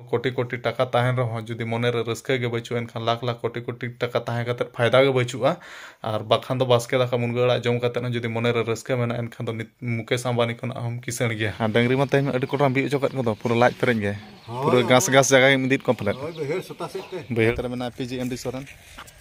ᱠᱳᱴᱤ ᱠᱳᱴᱤ ᱴᱟᱠᱟ ᱛᱟᱦᱮᱱ ᱨᱮᱦᱚᱸ ᱡᱩᱫᱤ ᱢᱚᱱᱮ ᱨᱮ ᱨᱟᱹᱥᱠᱟᱹ ᱜᱮ ᱵᱟᱹᱪᱩᱜᱼᱟ ᱮᱱᱠᱷᱟᱱ ᱞᱟᱠᱷ ᱞᱟᱠᱷ ᱠᱳᱴᱤ ᱠᱳᱴᱤ ᱴᱟᱠᱟ ᱛᱟᱦᱮᱸ ᱠᱟᱛᱮ ᱯᱷᱟᱭᱫᱟ ᱜᱮ ᱵᱟᱹᱪᱩᱜᱼᱟ ᱟᱨ ᱵᱟᱠᱷᱟᱱ ᱫᱚ ᱵᱟᱥᱠᱮ ᱫᱟᱠᱟ ᱢᱩᱱᱜᱟᱹ ᱟᱲᱟᱜ ᱡᱚᱢ ᱠᱟᱛᱮ ᱦᱚᱸ ᱡᱩᱫᱤ ᱢᱚᱱᱮ ᱨᱮ ᱨᱟᱹᱥᱠᱟᱹ ᱢᱮᱱᱟᱜᱼᱟ ᱮᱱᱠᱷᱟᱱ ᱫᱚ ᱱᱤᱛ ᱢᱩᱠᱮᱥ ᱟᱢᱵᱟᱱᱤ ᱠᱷᱚᱱᱟᱜ ᱦᱚᱸᱢ ᱠᱤᱥᱟᱹᱬ ᱜᱮᱭᱟ ᱟᱨ ᱰᱟᱹᱝᱨᱤ ᱢᱟ ᱛᱮᱦᱮᱧ ᱢᱟ ᱟᱹᱰᱤ ᱠᱚᱴᱨᱟᱢ ᱵᱤᱫ ᱚᱪᱚ ᱠᱮᱫ ᱠᱚᱫᱚ ᱯᱩᱨᱟᱹ ᱞᱟᱡ ᱯᱮᱨᱮᱡ ᱜᱮ ᱯᱩᱨᱟᱹ ᱜᱷᱟᱥ ᱜᱷᱟᱥ ᱡᱟᱭᱜᱟ ᱜᱮᱢ ᱤᱫᱤᱭᱮᱫ ᱠᱚᱣᱟ ᱯᱟᱞᱮᱫ ᱵᱟᱹᱭᱦᱟᱹᱲ ᱥᱚᱛᱟ ᱥᱮᱫ ᱛᱮ ᱵᱟᱹᱭᱦᱟᱹᱲ ᱨᱮ ᱢᱮᱱᱟᱭᱟ ᱯᱤ ᱡᱤ ᱮᱢ ᱰᱤ ᱥᱚᱨᱮᱱ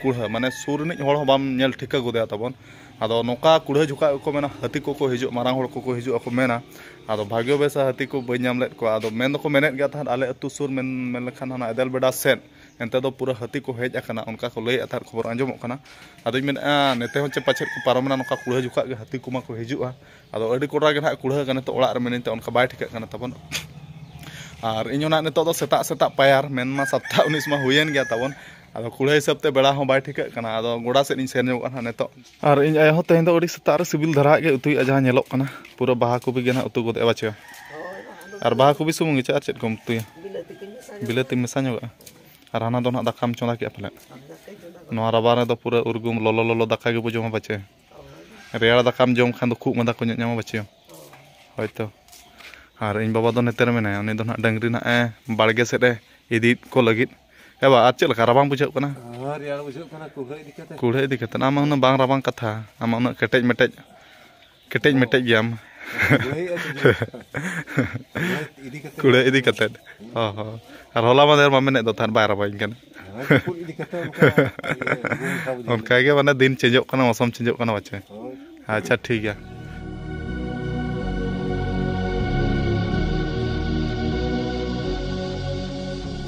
ᱠᱩᱲᱦᱟᱹ ᱢᱟᱱᱮ ᱥᱩᱨ ᱨᱤᱱᱤᱡ ᱦᱚᱲ ᱦᱚᱸ ᱵᱟᱢ ᱧᱮᱞ ᱴᱷᱤᱠᱟᱹ ᱜᱚᱫᱮᱭᱟ ᱛᱟᱵᱚᱱ ᱟᱫᱚ ᱱᱚᱝᱠᱟ ᱠᱩᱲᱦᱟᱹ ᱡᱷᱚᱠᱟᱜ ᱜᱮᱠᱚ ᱢᱮᱱᱟ ᱦᱟᱹᱛᱤ ᱠᱚᱠᱚ ᱦᱤᱡᱩᱜ ᱢᱟᱨᱟᱝ ᱦᱚᱲ ᱠᱚᱠᱚ ᱦᱤᱡᱩᱜ ᱟᱠᱚ ᱢᱮᱱᱟ ᱟᱫᱚ ᱵᱷᱟᱜᱽᱭᱚ ᱵᱮᱥᱟ ᱦᱟᱹᱛᱤ ᱠᱚ ᱵᱟᱹᱧ ᱧᱟᱢ ᱞᱮᱫ ᱠᱚᱣᱟ ᱟᱫᱚ ᱢᱮᱱ ᱫᱚᱠᱚ ᱢᱮᱱᱮᱫ ᱜᱮᱭᱟ ᱛᱟᱦᱮᱸᱫ ᱟᱞᱮ ᱟᱹᱛᱩ ᱥᱩᱨ ᱢᱮᱱ ᱢᱮᱱ ᱞᱮᱠᱷᱟᱱ ᱦᱟᱱᱟ ᱮᱫᱮᱞ ᱵᱮᱰᱟ ᱥᱮᱫ ᱮᱱᱛᱮ ᱫᱚ ᱯᱩᱨᱟᱹ ᱦᱟᱹᱛᱤ ᱠᱚ ᱦᱮᱡ ᱟᱠᱟᱱᱟ ᱚᱱᱠᱟ ᱠᱚ ᱞᱟᱹᱭᱮᱫ ᱛᱟᱦᱮᱸᱫ ᱠᱷᱚᱵᱚᱨ ᱟᱸᱡᱚᱢᱚᱜ ᱠᱟᱱᱟ ᱟᱫᱚᱧ ᱢᱮᱱᱮᱫᱼᱟ ᱱᱮᱛᱮ ᱦᱚᱸ ᱪᱮᱫ ᱯᱟᱪᱮᱫ ᱠᱚ ᱯᱟᱨᱚᱢᱮᱱᱟ ᱱᱚᱝᱠᱟ ᱠᱩᱲᱦᱟᱹ ᱡᱷᱚᱠᱟᱜ ᱜᱮ ᱦᱟᱹᱛᱤ ᱠᱚᱢᱟ ᱠᱚ ᱦᱤᱡᱩᱜᱼᱟ ᱟᱫᱚ ᱟᱹᱰᱤ ᱠᱚᱰᱨᱟ ᱜᱮ ᱱᱟᱦᱟᱜ ᱠᱩᱲᱦᱟᱹ ᱠᱟᱱᱟ ᱱᱤᱛᱚᱜ ᱚᱲᱟᱜ ᱨᱮ ᱢᱤᱱᱟᱹᱧ ᱛᱮ ᱚᱱᱠᱟ ᱵᱟᱭ ᱴᱷᱤᱠᱟᱹᱜ ᱠᱟᱱᱟ ᱛᱟᱵᱚᱱ ᱟᱨ ᱤᱧ ᱦᱚᱸ ᱱᱟᱦᱟᱜ ᱱᱤᱛᱚᱜ ᱫᱚ ᱥᱮᱛᱟᱜ ᱥᱮᱛᱟᱜ ᱯᱟᱭᱟᱨ ᱢᱮᱱᱢᱟ ᱥᱟᱛᱴᱟ ᱩᱱᱤᱥ ᱢᱟ ᱦᱩᱭᱮᱱ ᱜᱮᱭᱟ ᱛᱟᱵᱚᱱ ᱟᱫᱚ ᱠᱩᱲᱟᱹᱭ ᱦᱤᱥᱟᱹᱵ ᱛᱮ ᱵᱮᱲᱟ ᱦᱚᱸ ᱵᱟᱭ ᱴᱷᱤᱠᱟᱹᱜ ᱠᱟᱱᱟ ᱟᱫᱚ ᱜᱚᱰᱟ ᱥᱮᱫ ᱤᱧ ᱥᱮᱱ ᱧᱚᱜᱚᱜᱼᱟ ᱱᱟᱦᱟᱜ ᱱᱤᱛᱚᱜ ᱟᱨ ᱤᱧ ᱟᱭᱳ ᱦᱚᱸ ᱛᱮᱦᱮᱧ ᱫᱚ ᱟᱹᱰᱤ ᱥᱮᱛᱟᱜ ᱨᱮ ᱥᱤᱵᱤᱞ ᱫᱷᱟᱨᱟ ᱜᱮ ᱩᱛᱩᱭᱮᱫᱼᱟ ᱡᱟᱦᱟᱸ ᱧᱮᱞᱚᱜ ᱠᱟᱱᱟ ᱯᱩᱨᱟᱹ ᱵᱟᱦᱟ ᱠᱚᱯᱤ ᱜᱮ ᱱᱟᱦᱟᱜ ᱩᱛᱩ ᱜᱚᱫᱮᱜᱼᱟ ᱵᱟᱪᱮ ᱟᱨ ᱵᱟᱦᱟ ᱠᱚᱯᱤ ᱥᱩᱢᱩᱝ ᱜᱮᱪᱮ ᱟᱨ ᱪᱮᱫ ᱠᱚᱢ ᱩᱛᱩᱭᱟ ᱵᱤᱞᱟᱹᱛᱤ ᱢᱮᱥᱟ ᱧᱚᱜᱚᱜᱼᱟ ᱟᱨ ᱦᱟᱱᱟ ᱫᱚ ᱱᱟᱦᱟᱜ ᱫᱟᱠᱟᱢ ᱪᱚᱸᱫᱟ ᱠᱮᱫᱼᱟ ᱯᱟᱞᱮᱫ ᱱᱚᱣᱟ ᱨᱟᱵᱟᱝ ᱨᱮᱫᱚ ᱯᱩᱨᱟᱹ ᱩᱨᱜᱩᱢ ᱞᱚᱞᱚ ᱞᱚᱞᱚ ᱫᱟᱠᱟ ᱜᱮᱵᱚ ᱡᱚᱢᱟ ᱯᱟᱪᱮ ᱨᱮᱭᱟᱲ ᱫᱟᱠᱟᱢ ᱡᱚᱢ ᱠᱷᱟᱱ ᱫᱚ ᱠᱷᱩᱜ ᱢᱟᱫᱟ ᱠᱚ ᱧᱟᱢᱟ ᱵᱟᱪᱮᱭᱟ ᱦᱳᱭ ᱛᱚ ᱟᱨ ᱤᱧ ᱵᱟᱵᱟ ᱫᱚ ᱱᱚᱛᱮ ᱨᱮ ᱢᱮᱱᱟᱭᱟ ᱩᱱᱤ ᱫᱚ ᱦᱟᱸᱜ ᱰᱟᱹᱝᱨᱤ ᱦᱟᱸᱜ ᱮ ᱵᱟᱲᱜᱮ ᱥᱮᱫ ᱮ ᱤᱫᱤᱭᱮᱫ ᱠᱚ ᱞᱟᱹᱜᱤᱫ ᱮ ᱵᱟ ᱟᱨ ᱪᱮᱫ ᱞᱮᱠᱟ ᱨᱟᱵᱟᱝ ᱵᱩᱡᱷᱟᱹᱜ ᱠᱟᱱᱟ ᱨᱮᱭᱟᱲ ᱵᱩᱡᱷᱟᱹᱜ ᱠᱟᱱᱟ ᱠᱩᱲᱦᱟᱹ ᱤᱫᱤ ᱠᱟᱛᱮ ᱠᱩᱲᱦᱟᱹ ᱤᱫᱤ ᱠᱟᱛᱮ ᱟᱢ ᱩᱱᱟᱹᱜ ᱵᱟᱝ ᱨᱟᱵᱟᱝ ᱠᱟᱛᱷᱟ ᱟᱢ ᱩᱱᱟᱹᱜ ᱠᱮᱴᱮᱡ ᱢᱮᱴᱮᱡ ᱠᱮᱴᱮᱡ ᱢᱮᱴᱮᱡ ᱜᱮᱭᱟᱢ ᱠᱩᱲᱦᱟᱹ ᱤᱫᱤ ᱠᱟᱛᱮ ᱚ ᱦᱚᱸ ᱟᱨ ᱦᱚᱞᱟ ᱢᱟᱫᱷᱮᱨ ᱢᱟ ᱢᱮᱱᱮᱫ ᱫᱚ ᱛᱟᱦᱮᱸᱫ ᱵᱟᱭ ᱨᱟᱵᱟᱝ ᱠᱟᱱᱟ ᱚᱱᱠᱟᱜᱮ ᱢᱟᱱᱮ ᱫᱤᱱ ᱪᱮᱧᱡᱚᱜ ᱠᱟᱱᱟ ᱢᱚᱥᱚᱢ ᱪᱮᱧᱡᱚᱜ ᱠᱟᱱᱟ ᱵᱟᱪᱮ ᱟᱪᱪᱷᱟ ᱴᱷᱤᱠ ᱜᱮᱭᱟ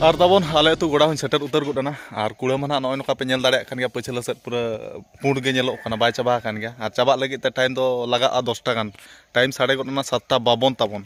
ᱟᱨ ᱛᱟᱵᱚᱱ ᱟᱞᱮ ᱟᱹᱛᱩ ᱜᱚᱲᱟ ᱦᱚᱸᱧ ᱥᱮᱴᱮᱨ ᱩᱛᱟᱹᱨ ᱜᱚᱫ ᱮᱱᱟ ᱟᱨ ᱠᱩᱲᱟᱹ ᱢᱟ ᱱᱟᱦᱟᱜ ᱱᱚᱜᱼᱚᱭ ᱱᱚᱝᱠᱟ ᱯᱮ ᱧᱮᱞ ᱫᱟᱲᱮᱭᱟᱜ ᱠᱟᱱ ᱜᱮᱭᱟ ᱯᱟᱹᱪᱷᱞᱟᱹ ᱥᱮᱫ ᱯᱩᱨᱟᱹ ᱯᱩᱸᱰ ᱜᱮ ᱧᱮᱞᱚᱜ ᱠᱟᱱᱟ ᱵᱟᱭ ᱪᱟᱵᱟ ᱟᱠᱟᱱ ᱜᱮᱭᱟ ᱟᱨ ᱪᱟᱵᱟᱜ ᱞᱟᱹᱜᱤᱫ ᱛᱮ ᱴᱟᱭᱤᱢ ᱫᱚ ᱞᱟᱜᱟᱜᱼᱟ ᱫᱚᱥᱴᱟ ᱜᱟᱱ ᱴᱟᱭᱤᱢ ᱥᱟᱲᱮ ᱜᱚᱫ ᱮᱱᱟ ᱥᱟᱛᱴᱟ ᱵᱟᱵᱚᱱ ᱛᱟᱵᱚᱱ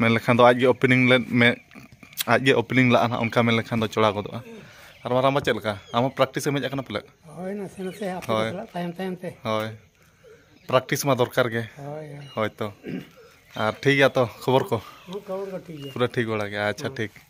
ᱢᱮᱱ ᱞᱮᱠᱷᱟᱱ ᱫᱚ ᱟᱡ ᱜᱮ ᱳᱯᱮᱱᱤᱝ ᱞᱮᱫ ᱢᱮ ᱟᱡ ᱜᱮ ᱳᱯᱮᱱᱤᱝ ᱞᱟᱜᱼᱟ ᱦᱟᱸᱜ ᱚᱱᱠᱟ ᱢᱮᱱ ᱞᱮᱠᱷᱟᱱ ᱫᱚ ᱪᱚᱲᱟ ᱜᱚᱫᱚᱜᱼᱟ ᱟᱨ ᱢᱟᱨᱟᱝ ᱵᱟ ᱪᱮᱫ ᱞᱮᱠᱟ ᱟᱢ ᱦᱚᱸ ᱯᱨᱮᱠᱴᱤᱥ ᱮᱢ ᱦᱮᱡ ᱟᱠᱟᱱᱟ ᱯᱟᱞᱮᱫ ᱦᱳᱭ ᱱᱟᱥᱮ ᱱᱟᱥᱮ ᱟᱯᱮ ᱦᱳᱭ᱾ ᱥᱟᱞᱟᱜ ᱛᱟᱭᱚᱢ ᱛᱟᱭᱚᱢ ᱛᱮ ᱦᱳᱭ ᱯᱨᱮᱠᱴᱤᱥ ᱢᱟ ᱫᱚᱨᱠᱟᱨ ᱜᱮ ᱦᱳᱭ ᱦᱳᱭ ᱦᱳᱭ ᱛᱚ ᱟᱨ ᱴᱷᱤᱠ ᱜᱮᱭᱟ ᱛᱚ ᱠᱷᱚᱵᱚᱨ ᱠᱚ ᱦᱚᱸ ᱠᱷᱚᱵᱚᱨ ᱠᱚ ᱴᱷᱤᱠ ᱜᱮᱭᱟ ᱯᱩᱨᱟᱹ ᱴᱷᱤᱠ ᱵᱟᱲᱟ ᱜᱮᱭᱟ ᱟᱪᱪᱷᱟ ᱴᱷᱤᱠ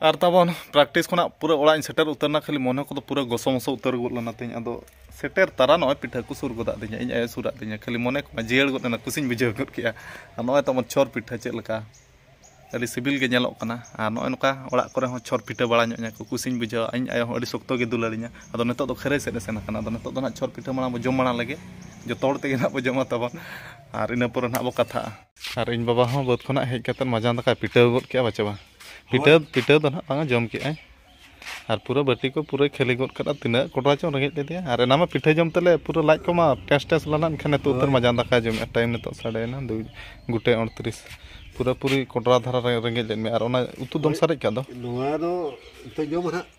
ᱟᱨ ᱛᱟᱵᱚᱱ ᱯᱨᱮᱠᱴᱤᱥ ᱠᱷᱚᱱᱟᱜ ᱯᱩᱨᱟᱹ ᱚᱲᱟᱜ ᱤᱧ ᱥᱮᱴᱮᱨ ᱩᱛᱟᱹᱨ ᱮᱱᱟ ᱠᱷᱟᱹᱞᱤ ᱢᱚᱱᱮ ᱠᱚᱫᱚ ᱯᱩᱨᱟᱹ ᱜᱚᱥᱚ ᱢᱚᱥᱚ ᱩᱛᱟᱹᱨ ᱜᱚᱫ ᱞᱮᱱᱟ ᱛᱤᱧ ᱟᱫᱚ ᱥᱮᱴᱮᱨ ᱛᱟᱨᱟ ᱱᱚᱜᱼᱚᱭ ᱯᱤᱴᱷᱟᱹ ᱠᱚ ᱥᱩᱨ ᱜᱚᱫᱟᱜ ᱫᱤᱧᱟ ᱤᱧ ᱟᱭᱳ ᱥᱩᱨᱟᱜ ᱫᱤᱧᱟ ᱠᱷᱟᱹᱞᱤ ᱢᱚᱱᱮ ᱠᱚᱢᱟ ᱡᱤᱭᱟᱹᱲ ᱜᱚᱫ ᱮᱱᱟ ᱠᱩᱥᱤᱧ ᱵᱩᱡᱷᱟᱹᱣ ᱜᱚᱫ ᱠᱮᱜᱼᱟ ᱟᱨ ᱱᱚᱜᱼᱚᱭ ᱛᱟᱵᱚᱱ ᱪᱷᱚᱨ ᱯᱤᱴᱷᱟᱹ ᱪᱮᱫ ᱞᱮᱠᱟ ᱟᱹᱰᱤ ᱥᱤᱵᱤᱞ ᱜᱮ ᱧᱮᱞᱚᱜ ᱠᱟᱱᱟ ᱟᱨ ᱱᱚᱜᱼᱚᱭ ᱱᱚᱝᱠᱟ ᱚᱲᱟᱜ ᱠᱚᱨᱮ ᱦᱚᱸ ᱪᱷᱚᱨ ᱯᱤᱴᱷᱟᱹ ᱵᱟᱲᱟ ᱧᱚᱜ ᱤᱧᱟ ᱠᱚ ᱠᱩᱥᱤᱧ ᱵᱩᱡᱷᱟᱹᱣᱟ ᱤᱧ ᱟᱭᱳ ᱦᱚᱸ ᱟᱹᱰᱤ ᱥᱚᱠᱛᱚ ᱜᱮ ᱫᱩᱞᱟᱹᱲᱤᱧᱟ ᱟᱫᱚ ᱱᱤᱛᱚᱜ ᱫᱚ ᱠᱷᱟᱹᱨᱟᱹᱭ ᱥᱮᱫ ᱮ ᱥᱮᱱ ᱟᱠᱟᱱᱟ ᱟᱫᱚ ᱱᱤᱛᱚᱜ ᱫᱚ ᱱᱟᱜ ᱪᱷᱚᱨ ᱯᱤᱴᱷᱟᱹ ᱢᱟᱲᱟᱝ ᱵᱚ ᱡᱚᱢ ᱢᱟᱲᱟᱝ ᱞᱮᱜᱮ ᱡᱚᱛᱚ ᱦᱚᱲ ᱛᱮᱜᱮ ᱱᱟᱜ ᱵᱚ ᱡᱚᱢᱟ ᱛᱟᱵᱚᱱ ᱟᱨ ᱤᱱᱟᱹ ᱯᱚᱨᱮ ᱱᱟᱜ ᱵᱚ ᱠᱟᱛᱷᱟᱜᱼᱟ ᱟᱨ ᱤᱧ ᱵᱟᱵᱟ ᱦᱚᱸ ᱵᱟᱹᱫᱽ ᱠᱷᱚᱱᱟᱜ ᱦᱮᱡ ᱠᱟᱛᱮᱫ ᱢᱟᱡᱟᱱ ᱫᱟᱠᱟᱭ ᱯᱤᱴᱟᱹᱣ ᱜᱚᱫ ᱠᱮᱜᱼᱟ ᱵᱟᱪᱮ ᱵᱟᱝ ᱯᱤᱴᱟᱹᱣ ᱯᱤᱴᱟᱹᱣ ᱫᱚ ᱱᱟᱦᱟᱜ ᱵᱟᱝᱟ ᱡᱚᱢ ᱠᱮᱜᱼᱟᱭ ᱟᱨ ᱯᱩᱨᱟᱹ ᱵᱟᱹᱴᱤ ᱠᱚ ᱯᱩᱨᱟᱹᱭ ᱠᱷᱟᱹᱞᱤ ᱜᱚᱫ ᱠᱟᱫᱟ ᱛᱤᱱᱟᱹᱜ ᱠᱚᱰᱨᱟ ᱪᱚᱝ ᱨᱮᱸᱜᱮᱡ ᱞᱮᱫᱮᱭᱟ ᱟᱨ ᱮᱱᱟᱝ ᱢᱟ ᱯᱤᱴᱷᱟᱹ ᱡᱚᱢ ᱛᱮᱞᱮ ᱯᱩᱨᱟᱹ ᱞᱟᱡ ᱠᱚᱢᱟ ᱴᱮᱥ ᱴᱮᱥ ᱞᱮᱱᱟ ᱮᱱᱠᱷᱟᱱ ᱱᱤᱛᱚᱜ ᱩᱛᱟᱹᱨ ᱢᱟᱡᱟᱱ ᱫᱟᱠᱟᱭ ᱡᱚᱢᱮᱜᱼᱟ ᱴᱟᱭᱤᱢ ᱱᱤᱛᱚᱜ ᱥᱟᱰᱮᱭᱮᱱᱟ ᱫᱩ ᱜᱚᱴᱮᱡ ᱩᱱᱛᱨᱤᱥ ᱯᱩᱨᱟᱹ ᱯᱩᱨᱤ ᱠᱚᱰᱨᱟ ᱫᱷᱟᱨᱟ ᱨᱮᱸᱜᱮᱡ ᱞᱮᱫ ᱢᱮᱭᱟ ᱟᱨ ᱚᱱᱟ ᱩᱛᱩ ᱫᱚᱢ ᱥᱟᱨᱮᱡ ᱠᱟᱜ ᱫᱚ ᱱᱚᱣᱟ ᱫᱚ ᱱᱤᱛᱚᱜ ᱡᱚᱢᱟ ᱦᱟᱸᱜ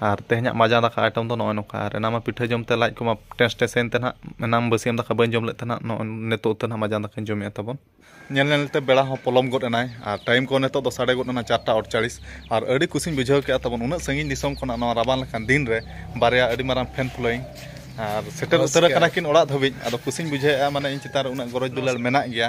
ᱟᱨ ᱛᱮᱦᱮᱧᱟᱜ ᱢᱟᱡᱟᱱ ᱫᱟᱠᱟ ᱟᱭᱴᱮᱢ ᱫᱚ ᱱᱚᱜᱼᱚᱭ ᱱᱚᱝᱠᱟ ᱟᱨ ᱮᱱᱟᱝ ᱢᱟ ᱯᱤᱴᱷᱟᱹ ᱡᱚᱢ ᱛᱮ ᱞᱟᱡ ᱠᱚᱢᱟ ᱴᱮᱥ ᱴᱮᱥ ᱮᱱᱛᱮ ᱱᱟᱦᱟᱜ ᱮᱱᱟᱝ ᱵᱟᱹᱥᱭᱟᱹᱢ ᱫᱟᱠᱟ ᱵᱟᱹᱧ ᱡᱚᱢ ᱞᱮᱫ ᱛᱮ ᱱᱟᱦᱟᱜ ᱱᱚᱜᱼᱚᱭ ᱱᱤᱛᱚᱜ ᱛᱮ ᱱᱟᱦᱟᱜ ᱢᱟᱡᱟᱱ ᱫᱟᱠᱟᱧ ᱡᱚᱢᱮᱜᱼᱟ ᱛᱟᱵᱚᱱ ᱧᱮᱞ ᱧᱮᱞ ᱛᱮ ᱵᱮᱲᱟ ᱦᱚᱸ ᱯᱚᱞᱚᱢ ᱜᱚᱫ ᱮᱱᱟᱭ ᱟᱨ ᱴᱟᱭᱤᱢ ᱠᱚ ᱱᱤᱛᱚᱜ ᱫᱚ ᱥᱟᱰᱮ ᱜᱚᱫ ᱮᱱᱟ ᱪᱟᱨᱴᱟ ᱚᱲᱪᱟᱲᱤᱥ ᱟᱨ ᱟᱹᱰᱤ ᱠᱩᱥᱤᱧ ᱵᱩᱡᱷᱟᱹᱣ ᱠᱮᱜᱼᱟ ᱛᱟᱵᱚᱱ ᱩᱱᱟᱹᱜ ᱥᱟᱺᱜᱤᱧ ᱫᱤᱥᱚᱢ ᱠᱷᱚᱱᱟᱜ ᱱᱚᱣᱟ ᱨᱟᱵᱟᱝ ᱞᱮᱠᱟᱱ ᱫᱤᱱ ᱨᱮ ᱵᱟᱨᱭᱟ ᱟᱹᱰᱤ ᱢᱟᱨᱟᱝ ᱯᱷᱮᱱ ᱯᱷᱳᱞᱳᱭᱤᱝ ᱟᱨ ᱥᱮᱴᱮᱨ ᱩᱛᱟᱹᱨ ᱟᱠᱟᱱᱟ ᱠᱤᱱ ᱚᱲᱟᱜ ᱫᱷᱟᱹᱵᱤᱡ ᱟᱫᱚ ᱠᱩᱥᱤᱧ ᱵᱩᱡᱷᱟᱹᱣᱮᱜᱼᱟ ᱢᱟᱱᱮ ᱤᱧ ᱪᱮᱛᱟᱱ ᱨᱮ ᱩᱱᱟᱹᱜ ᱜᱚᱨᱚᱡᱽ ᱫᱩᱞᱟᱹᱲ ᱢᱮᱱᱟᱜ ᱜᱮᱭᱟ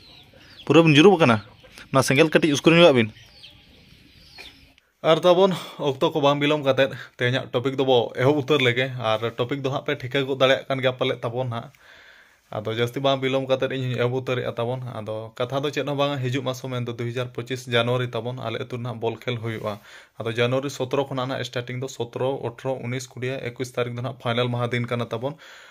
ᱯᱩᱨᱟᱹ ᱵᱤᱱ ᱡᱩᱨᱩᱜ ᱠᱟᱱᱟ ᱚᱱᱟ ᱥᱮᱸᱜᱮᱞ ᱠᱟᱹᱴᱤᱡ ᱩᱥᱠᱩᱨ ᱧᱚᱜᱟᱜ ᱵᱤᱱ ᱟᱨ ᱛᱟᱵᱚᱱ ᱚᱠᱛᱚ ᱠᱚ ᱵᱟᱝ ᱵᱤᱞᱚᱢ ᱠᱟᱛᱮ ᱛᱮᱦᱮᱧᱟᱜ ᱴᱚᱯᱤᱠ ᱫᱚᱵᱚ ᱮᱦᱚᱵ ᱩᱛᱟᱹᱨ ᱞᱮᱜᱮ ᱟᱨ ᱴᱚᱯᱤᱠ ᱫᱚ ᱦᱟᱸᱜ ᱯᱮ ᱴᱷᱤᱠᱟᱹ ᱜᱚᱫ ᱫᱟᱲᱮᱭᱟᱜ ᱠᱟᱱ ᱜᱮᱭᱟ ᱯᱟᱞᱮᱫ ᱛᱟᱵᱚᱱ ᱦᱟᱸᱜ ᱟᱫᱚ ᱡᱟᱹᱥᱛᱤ ᱵᱟᱝ ᱵᱤᱞᱚᱢ ᱠᱟᱛᱮ ᱤᱧ ᱦᱚᱧ ᱮᱦᱚᱵ ᱩᱛᱟᱹᱨᱮᱜᱼᱟ ᱛᱟᱵᱚᱱ ᱟᱫᱚ ᱠᱟᱛᱷᱟ ᱫᱚ ᱪᱮᱫ ᱦᱚᱸ ᱵᱟᱝ ᱦᱤᱡᱩᱜ ᱢᱟᱥᱚ ᱢᱮᱱ ᱫᱚ ᱫᱩ ᱦᱟᱡᱟᱨ ᱯᱚᱸᱪᱤᱥ ᱡᱟᱱᱩᱣᱟᱨᱤ ᱛᱟᱵᱚᱱ ᱟᱞᱮ ᱟᱹᱛᱩ ᱨᱮᱱᱟᱜ ᱵᱚᱞ ᱠᱷᱮᱞ ᱦᱩᱭᱩᱜᱼᱟ ᱟᱫᱚ ᱡᱟᱱᱩᱣᱟᱨᱤ ᱥᱚᱛᱨᱚ ᱠᱷᱚᱱᱟᱜ ᱦᱟᱸᱜ ᱥᱴᱟᱨᱴᱤᱝ ᱫᱚ ᱥᱚᱛᱨᱚ ᱚᱴᱷᱨᱚ ᱩᱱᱤᱥ ᱠᱩᱲᱤ ᱮᱠᱩᱥ ᱛᱟᱹᱨᱤᱠᱷ ᱫᱚ ᱦᱟᱸᱜ ᱯᱷᱟᱭᱱᱟᱞ ᱢᱟᱦᱟ ᱫᱤᱱ ᱠᱟᱱᱟ ᱛᱟᱵᱚᱱ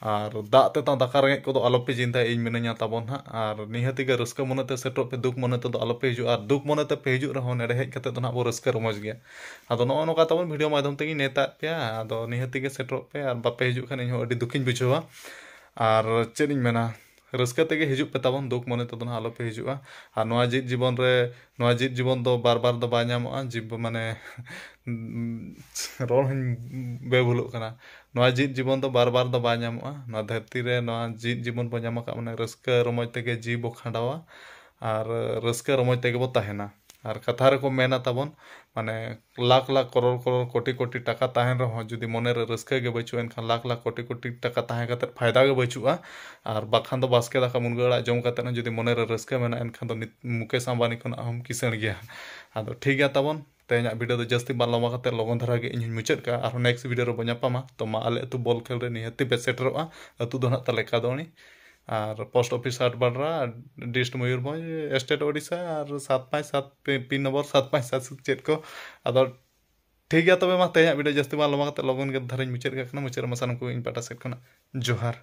ᱟᱨ ᱫᱟᱜ ᱛᱮᱛᱟᱝ ᱫᱟᱠᱟ ᱨᱮᱸᱜᱮᱡ ᱠᱚᱫᱚ ᱟᱞᱚ ᱯᱮ ᱪᱤᱱᱛᱟᱹᱭᱟ ᱤᱧ ᱢᱤᱱᱟᱹᱧᱟ ᱛᱟᱵᱚᱱ ᱱᱟᱦᱟᱜ ᱟᱨ ᱱᱤᱦᱟᱹᱛᱤ ᱜᱮ ᱨᱟᱹᱥᱠᱟᱹ ᱢᱚᱱᱮ ᱛᱮ ᱥᱮᱴᱮᱨᱚᱜ ᱯᱮ ᱫᱩᱠ ᱢᱚᱱᱮ ᱛᱮᱫᱚ ᱟᱞᱚ ᱯᱮ ᱦᱤᱡᱩᱜᱼᱟ ᱟᱨ ᱫᱩᱠ ᱢᱚᱱᱮ ᱛᱮᱯᱮ ᱦᱤᱡᱩᱜ ᱨᱮᱦᱚᱸ ᱱᱚᱰᱮ ᱦᱮᱡ ᱠᱟᱛᱮᱫ ᱫᱚ ᱱᱟᱦᱟᱜ ᱵᱚᱱ ᱨᱟᱹᱥᱠᱟᱹ ᱨᱚᱢᱚᱡᱽ ᱜᱮᱭᱟ ᱟᱫᱚ ᱱᱚᱜᱼᱚ ᱱᱚᱝᱠᱟ ᱛᱟᱵᱚᱱ ᱵᱷᱤᱰᱤᱭᱳ ᱢᱟᱫᱽᱫᱷᱚᱢ ᱛᱮᱜᱮᱧ ᱱᱮᱶᱛᱟᱭᱮᱫ ᱯᱮᱭᱟ ᱟᱫᱚ ᱱᱤᱦᱟᱹᱛᱤ ᱜᱮ ᱥᱮᱴᱮᱨᱚᱜ ᱯᱮ ᱟᱨ ᱵᱟᱯᱮ ᱦᱤᱡᱩᱜ ᱠᱷᱟᱱ ᱤᱧ ᱦᱚᱸ ᱟᱹᱰᱤ ᱫᱩᱠᱷᱤᱧ ᱵᱩᱡᱷᱟᱹᱣᱟ ᱟᱨ ᱪᱮᱫ ᱤᱧ ᱢᱮᱱᱟ ᱨᱟᱹᱥᱠᱟᱹ ᱛᱮᱜᱮ ᱦᱤᱡᱩᱜ ᱯᱮ ᱛᱟᱵᱚᱱ ᱫᱩᱠ ᱢᱚᱱᱮ ᱛᱮᱫᱚ ᱱᱟᱦᱟᱜ ᱟᱞᱚᱯᱮ ᱦᱤᱡᱩᱜᱼᱟ ᱟᱨ ᱱᱚᱣᱟ ᱡᱮᱣᱮᱫ ᱡᱤᱵᱚᱱ ᱨᱮ ᱱᱚᱣᱟ ᱡᱮᱣᱮᱫ ᱡᱤᱵᱚᱱ ᱫᱚ ᱵᱟᱨ ᱵᱟᱨ ᱫᱚ ᱵᱟᱭ ᱧᱟᱢᱚᱜᱼᱟ ᱡᱤᱵᱽ ᱢᱟᱱᱮ ᱨᱚᱲ ᱦᱚᱧ ᱵᱮ ᱵᱷᱩᱞᱚᱜ ᱠᱟᱱᱟ ᱱᱚᱣᱟ ᱡᱮᱣᱮᱫ ᱡᱤᱵᱚᱱ ᱫᱚ ᱵᱟᱨ ᱵᱟᱨ ᱫᱚ ᱵᱟᱭ ᱧᱟᱢᱚᱜᱼᱟ ᱱᱚᱣᱟ ᱫᱷᱟᱹᱨᱛᱤ ᱨᱮ ᱱᱚᱣᱟ ᱡᱮᱣᱮᱫ ᱡᱤᱵᱚᱱ ᱵᱚᱱ ᱧᱟᱢ ᱟᱠᱟᱫ ᱢᱟᱱᱮ ᱨᱟᱹᱥᱠᱟᱹ ᱨᱚᱢᱚᱡᱽ ᱛᱮᱜᱮ ᱡᱤᱣᱤ ᱵᱚ ᱠᱷᱟᱸᱰᱟᱣᱟ ᱟᱨ ᱨᱟᱹᱥᱠᱟᱹ ᱨᱚᱢᱚᱡᱽ ᱛᱮᱜᱮ ᱵᱚ ᱛᱟᱦᱮᱱᱟ ᱟᱨ ᱠᱟᱛᱷᱟ ᱨᱮᱠᱚ ᱢᱮᱱᱟ ᱛᱟᱵᱚᱱ ᱢᱟᱱᱮ ᱞᱟᱠᱷ ᱞᱟᱠᱷ ᱠᱚᱨᱚᱲ ᱠᱚᱨᱚᱲ ᱠᱳᱴᱤ ᱠᱳᱴᱤ ᱴᱟᱠᱟ ᱛᱟᱦᱮᱱ ᱨᱮᱦᱚᱸ ᱡᱩᱫᱤ ᱢᱚᱱᱮ ᱨᱮ ᱨᱟᱹᱥᱠᱟᱹ ᱜᱮ ᱵᱟᱹᱪᱩᱜᱼᱟ ᱮᱱᱠᱷᱟᱱ ᱞᱟᱠᱷ ᱞᱟᱠᱷ ᱠᱳᱴᱤ ᱠᱳᱴᱤ ᱴᱟᱠᱟ ᱛᱟᱦᱮᱸ ᱠᱟᱛᱮ ᱯᱷᱟᱭᱫᱟ ᱜᱮ ᱵᱟᱹᱪᱩᱜᱼᱟ ᱟᱨ ᱵᱟᱠᱷᱟᱱ ᱫᱚ ᱵᱟᱥᱠᱮ ᱫᱟᱠᱟ ᱢᱩᱱᱜᱟᱹ ᱟᱲᱟᱜ ᱡᱚᱢ ᱠᱟᱛᱮ ᱦᱚᱸ ᱡᱩᱫᱤ ᱢᱚᱱᱮ ᱨᱮ ᱨᱟᱹᱥᱠᱟᱹ ᱢᱮᱱᱟᱜᱼᱟ ᱮᱱᱠᱷᱟᱱ ᱫᱚ ᱱᱤᱛ ᱢᱩᱠᱮᱥ ᱟᱢᱵᱟᱱᱤ ᱠᱷᱚᱱᱟᱜ ᱦᱚᱸᱢ ᱠᱤᱥᱟᱹᱬ ᱜᱮᱭᱟ ᱟᱫᱚ ᱴᱷᱤᱠ ᱜᱮᱭᱟ ᱛᱟᱵᱚᱱ ᱛᱮᱦᱮᱧᱟᱜ ᱵᱷᱤᱰᱤᱭᱳ ᱫᱚ ᱡᱟᱹᱥᱛᱤ ᱵᱟᱝ ᱞᱚᱢᱵᱟ ᱠᱟᱛᱮ ᱞᱚᱜᱚᱱ ᱫᱷᱟᱨᱟ ᱜᱮ ᱤᱧ ᱦᱚᱸᱧ ᱢᱩᱪᱟᱹᱫ ᱠᱟᱜᱼᱟ ᱟᱨᱦᱚᱸ ᱱᱮᱠᱥᱴ ᱵᱷᱤᱰᱤᱭᱳ ᱨᱮᱵᱚ ᱧᱟᱯᱟᱢᱟ ᱛᱚ ᱢᱟ ᱟᱞᱮ ᱟᱹᱛᱩ ᱵᱚᱞ ᱠᱷᱮᱞ ᱨᱮ ᱱᱤᱦᱟᱹᱛᱤ ᱯᱮ ᱥᱮᱴᱮᱨᱚᱜᱼᱟ ᱟᱹᱛᱩ ᱫᱚ ᱱᱟᱦᱟᱜ ᱛᱟᱞᱮ ᱠᱟᱫᱚᱣᱟᱹᱱᱤ ᱟᱨ ᱯᱳᱥᱴ ᱚᱯᱷᱤᱥ ᱦᱟᱴ ᱵᱟᱰᱨᱟ ᱰᱤᱥᱴ ᱢᱚᱭᱩᱨᱵᱷᱚᱸᱡᱽ ᱥᱴᱮᱴ ᱳᱰᱤᱥᱟ ᱟᱨ ᱥᱟᱛ ᱯᱟᱸᱪ ᱥᱟᱛ ᱯᱤᱱ ᱱᱚᱢᱵᱚᱨ ᱥᱟᱛ ᱯᱟᱸᱪ ᱥᱟᱛ ᱥᱟᱛ ᱪᱮᱫ ᱠᱚ ᱟᱫᱚ ᱴᱷᱤᱠ ᱜᱮᱭᱟ ᱛᱚᱵᱮ ᱢᱟ ᱛᱮᱦᱮᱧᱟᱜ ᱵᱷᱤᱰᱤᱭᱳ ᱡᱟᱹᱥᱛᱤ ᱵᱟᱝ ᱞᱚᱢᱵᱟ ᱠᱟᱛᱮᱫ ᱞᱚᱜᱚᱱ ᱜᱮ ᱫᱷᱟᱨᱟᱧ ᱢᱩᱪᱟᱹᱫ ᱠᱟᱜ ᱠᱟᱱᱟ ᱢᱩᱪᱟᱹᱫ ᱨᱮᱢᱟ ᱥᱟᱱᱟᱢ ᱠᱚᱜᱮ ᱤᱧ ᱯᱟᱦᱴᱟ ᱥᱮᱫ ᱠᱷᱚᱱᱟᱜ ᱡᱚᱦᱟᱨ